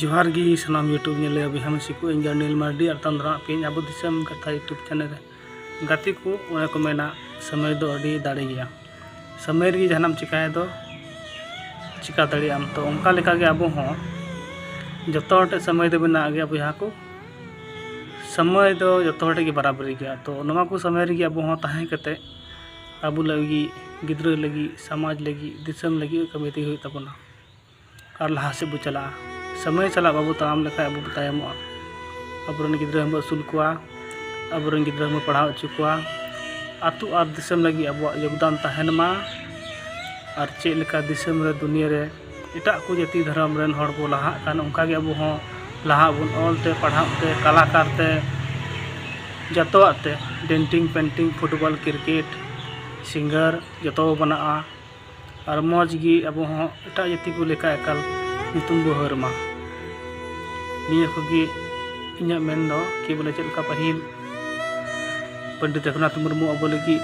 ᱡᱚᱦᱟᱨ ᱜᱮ ᱥᱟᱱᱟᱢ ᱭᱩᱴᱩᱵᱽ ᱧᱮᱧᱮᱞᱤᱭᱟᱹ ᱵᱚᱭᱦᱟ ᱢᱤᱥᱤ ᱠᱚ ᱤᱧ ᱫᱚ ᱚᱱᱤᱞ ᱢᱟᱨᱰᱤ ᱟᱨ ᱛᱟᱭᱚᱢ ᱫᱟᱨᱟᱢ ᱛᱮ ᱟᱵᱚ ᱫᱤᱥᱚᱢ ᱠᱟᱛᱷᱟ ᱭᱩᱴᱩᱵᱽ ᱪᱮᱱᱮᱞ ᱨᱮ ᱜᱟᱛᱮ ᱠᱚ ᱚᱱᱮ ᱠᱚ ᱢᱮᱱᱟ ᱥᱚᱢᱚᱭ ᱫᱚ ᱟᱹᱰᱤ ᱫᱟᱲᱮ ᱜᱮᱭᱟ ᱥᱚᱢᱚᱭ ᱨᱮᱜᱮ ᱡᱟᱦᱟᱱᱟᱜ ᱮᱢ ᱪᱤᱠᱟᱹᱭ ᱫᱚ ᱪᱤᱠᱟᱹ ᱫᱟᱲᱮᱭᱟᱜ ᱟᱢ ᱛᱚ ᱚᱱᱠᱟ ᱞᱮᱠᱟ ᱜᱮ ᱟᱵᱚ ᱦᱚᱸ ᱡᱚᱛᱚ ᱦᱚᱲ ᱴᱷᱮᱱ ᱥᱚᱢᱚᱭ ᱫᱚ ᱢᱮᱱᱟᱜ ᱜᱮᱭᱟ ᱵᱚᱭᱦᱟ ᱠᱚ ᱥᱚᱢᱚᱭ ᱫᱚ ᱡᱚᱛᱚ ᱦᱚᱲ ᱴᱷᱮᱱ ᱜᱮ ᱵᱟᱨᱟ ᱵᱟᱹᱨᱤ ᱜᱮᱭᱟ ᱛᱚ ᱱᱚᱣᱟ ᱠᱚ ᱥᱚᱢᱚᱭ ᱨᱮᱜᱮ ᱟᱵᱚ ᱦᱚᱸ ᱛᱟᱦᱮᱸ ᱠᱟᱛᱮᱫ ᱟᱵᱚ ᱞᱟᱹᱜᱤᱫ ᱜᱤᱫᱽᱨᱟᱹ ᱞᱟᱹᱜᱤᱫ ᱥᱚᱢᱟᱡᱽ ᱞᱟᱹᱜᱤᱫ ᱫᱤᱥᱚᱢ ᱞᱟᱹᱜᱤᱫ ᱠᱟᱹᱢᱤ ᱛᱮᱜᱮ ᱦᱩᱭᱩᱜ ᱛᱟᱵᱚᱱᱟ ᱟᱨ ᱞᱟᱦᱟ ᱥᱮᱫ ᱵᱚ ᱪᱟᱞᱟᱜᱼᱟ ᱥᱚᱢᱚᱭ ᱥᱟᱞᱟᱜ ᱵᱟᱵᱚ ᱛᱟᱲᱟᱢ ᱞᱮᱠᱷᱟᱱ ᱟᱵᱚ ᱵᱚ ᱛᱟᱭᱚᱢᱚᱜᱼᱟ ᱟᱵᱚ ᱨᱮᱱ ᱜᱤᱫᱽᱨᱟᱹ ᱦᱚᱸᱵᱚ ᱟᱹᱥᱩᱞ ᱠᱚᱣᱟ ᱟᱵᱚ ᱨᱮᱱ ᱜᱤᱫᱽᱨᱟᱹ ᱦᱚᱸᱵᱚ ᱯᱟᱲᱦᱟᱣ ᱦᱚᱪᱚ ᱠᱚᱣᱟ ᱟᱹᱛᱩ ᱟᱨ ᱫᱤᱥᱚᱢ ᱞᱟᱹᱜᱤᱫ ᱟᱵᱚᱣᱟᱜ ᱡᱳᱜᱽᱫᱟᱱ ᱛᱟᱦᱮᱱ ᱢᱟ ᱟᱨ ᱪᱮᱫ ᱞᱮᱠᱟ ᱫᱤᱥᱚᱢ ᱨᱮ ᱫᱩᱱᱤᱭᱟᱹ ᱨᱮ ᱮᱴᱟᱜ ᱠᱚ ᱡᱟᱹᱛᱤ ᱫᱷᱚᱨᱚᱢ ᱨᱮᱱ ᱦᱚᱲ ᱵᱚ ᱞᱟᱦᱟᱜ ᱠᱟᱱ ᱚᱱᱠᱟ ᱜᱮ ᱟᱵᱚ ᱦᱚᱸ ᱞᱟᱦᱟᱜ ᱟᱵᱚᱱ ᱚᱞ ᱛᱮ ᱯᱟᱲᱦᱟᱣ ᱛᱮ ᱠᱟᱞᱟᱠᱟᱨ ᱛᱮ ᱡᱚᱛᱚᱣᱟᱜ ᱛᱮ ᱰᱮᱱᱴᱤᱝ ᱯᱮᱱᱴᱤᱝ ᱯᱷᱩᱴᱵᱚᱞ ᱠᱨᱤᱠᱮᱴ ᱥᱤᱝᱜᱟᱨ ᱡᱚᱛᱚ ᱵᱚ ᱵᱮᱱᱟᱜᱼᱟ ᱟᱨ ᱢᱚᱡᱽ ᱜᱮ ᱟᱵᱚ ᱦᱚᱸ ᱮᱴᱟᱜ ᱡᱟᱹᱛᱤ ᱠᱚ ᱞᱮᱠᱟ ᱮᱠᱟᱞ ᱧᱩᱛᱩᱢ ᱵᱚ ᱦᱟᱹᱨ ᱢᱟ ᱱᱤᱭᱟᱹ ᱠᱚᱜᱮ ᱤᱧᱟᱹᱜ ᱢᱮᱱ ᱫᱚ ᱠᱤ ᱵᱚᱞᱮ ᱪᱮᱫ ᱞᱮᱠᱟ ᱯᱟᱹᱦᱤᱞ ᱯᱚᱱᱰᱤᱛ ᱨᱚᱜᱷᱩᱱᱟᱛᱷ ᱢᱩᱨᱢᱩ ᱟᱵᱚ ᱞᱟᱹᱜᱤᱫ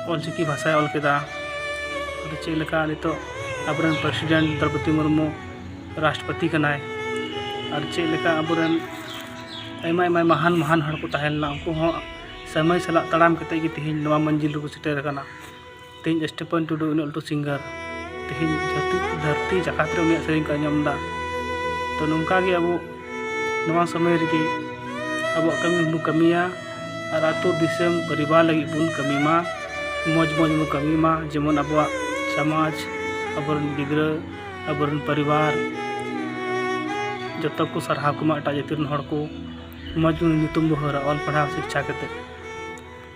ᱚᱞ ᱪᱤᱠᱤ ᱵᱷᱟᱥᱟᱭ ᱚᱞ ᱠᱮᱫᱟ ᱟᱫᱚ ᱪᱮᱫ ᱞᱮᱠᱟ ᱱᱤᱛᱚᱜ ᱟᱵᱚᱨᱮᱱ ᱯᱨᱮᱥᱤᱰᱮᱱᱴ ᱫᱨᱳᱯᱚᱫᱤ ᱢᱩᱨᱢᱩ ᱨᱟᱥᱴᱨᱚᱯᱚᱛᱤ ᱠᱟᱱᱟᱭ ᱟᱨ ᱪᱮᱫ ᱞᱮᱠᱟ ᱟᱵᱚᱨᱮᱱ ᱟᱭᱢᱟ ᱟᱭᱢᱟ ᱢᱟᱦᱟᱱ ᱢᱟᱦᱟᱱ ᱦᱚᱲ ᱠᱚ ᱛᱟᱦᱮᱸ ᱞᱮᱱᱟ ᱩᱱᱠᱩ ᱦᱚᱸ ᱥᱚᱢᱚᱭ ᱥᱟᱞᱟᱜ ᱛᱟᱲᱟᱢ ᱠᱟᱛᱮᱫ ᱜᱮ ᱛᱮᱦᱮᱧ ᱱᱚᱣᱟ ᱢᱚᱧᱡᱤᱞ ᱨᱮᱠᱚ ᱥᱮᱴᱮᱨ ᱟᱠᱟᱱᱟ ᱛᱮᱦᱮᱧ ᱥᱴᱤᱯᱷᱟᱱ ᱴᱩᱰᱩ ᱩᱱᱟᱹᱜ ᱞᱟᱹᱴᱩ ᱥᱤᱝᱜᱟᱨ ᱛᱮᱦᱮᱧ ᱡᱟᱹᱛᱤ ᱫᱷᱟᱹᱨᱛᱤ ᱡᱟᱠᱟᱛ ᱨᱮ ᱩᱱᱤᱭᱟᱜ ᱥᱮᱨᱮᱧ ᱠᱚ ᱟᱸᱡᱚᱢ ᱮᱫᱟ ᱛᱚ ᱱᱚᱝᱠᱟ ᱜᱮ ᱟᱵᱚ ᱱᱚᱣᱟ ᱥᱚᱢᱚᱭ ᱨᱮᱜᱮ ᱟᱵᱚᱣᱟᱜ ᱠᱟᱹᱢᱤ ᱵᱚᱱ ᱠᱟᱹᱢᱤᱭᱟ ᱟᱨ ᱟᱛᱳ ᱫᱤᱥᱚᱢ ᱯᱚᱨᱤᱵᱟᱨ ᱞᱟᱹᱜᱤᱫ ᱵᱚᱱ ᱠᱟᱹᱢᱤ ᱢᱟ ᱢᱚᱡᱽ ᱢᱚᱡᱽ ᱵᱚᱱ ᱠᱟᱹᱢᱤ ᱢᱟ ᱡᱮᱢᱚᱱ ᱟᱵᱚᱣᱟᱜ ᱥᱚᱢᱟᱡᱽ ᱟᱵᱚᱨᱮᱱ ᱜᱤᱫᱽᱨᱟᱹ ᱟᱵᱚᱨᱮᱱ ᱯᱚᱨᱤᱵᱟᱨ ᱡᱚᱛᱚ ᱠᱚ ᱥᱟᱨᱦᱟᱣ ᱠᱚᱢᱟ ᱮᱴᱟᱜ ᱡᱟᱹᱛᱤ ᱨᱮᱱ ᱦᱚᱲ ᱠᱚ ᱢᱚᱡᱽ ᱧᱩᱛᱩᱢ ᱵᱚᱱ ᱦᱟᱹᱨᱟ ᱚᱞ ᱯᱟᱲᱦᱟᱣ ᱥᱤᱠᱠᱷᱟ ᱠᱟᱛᱮᱫ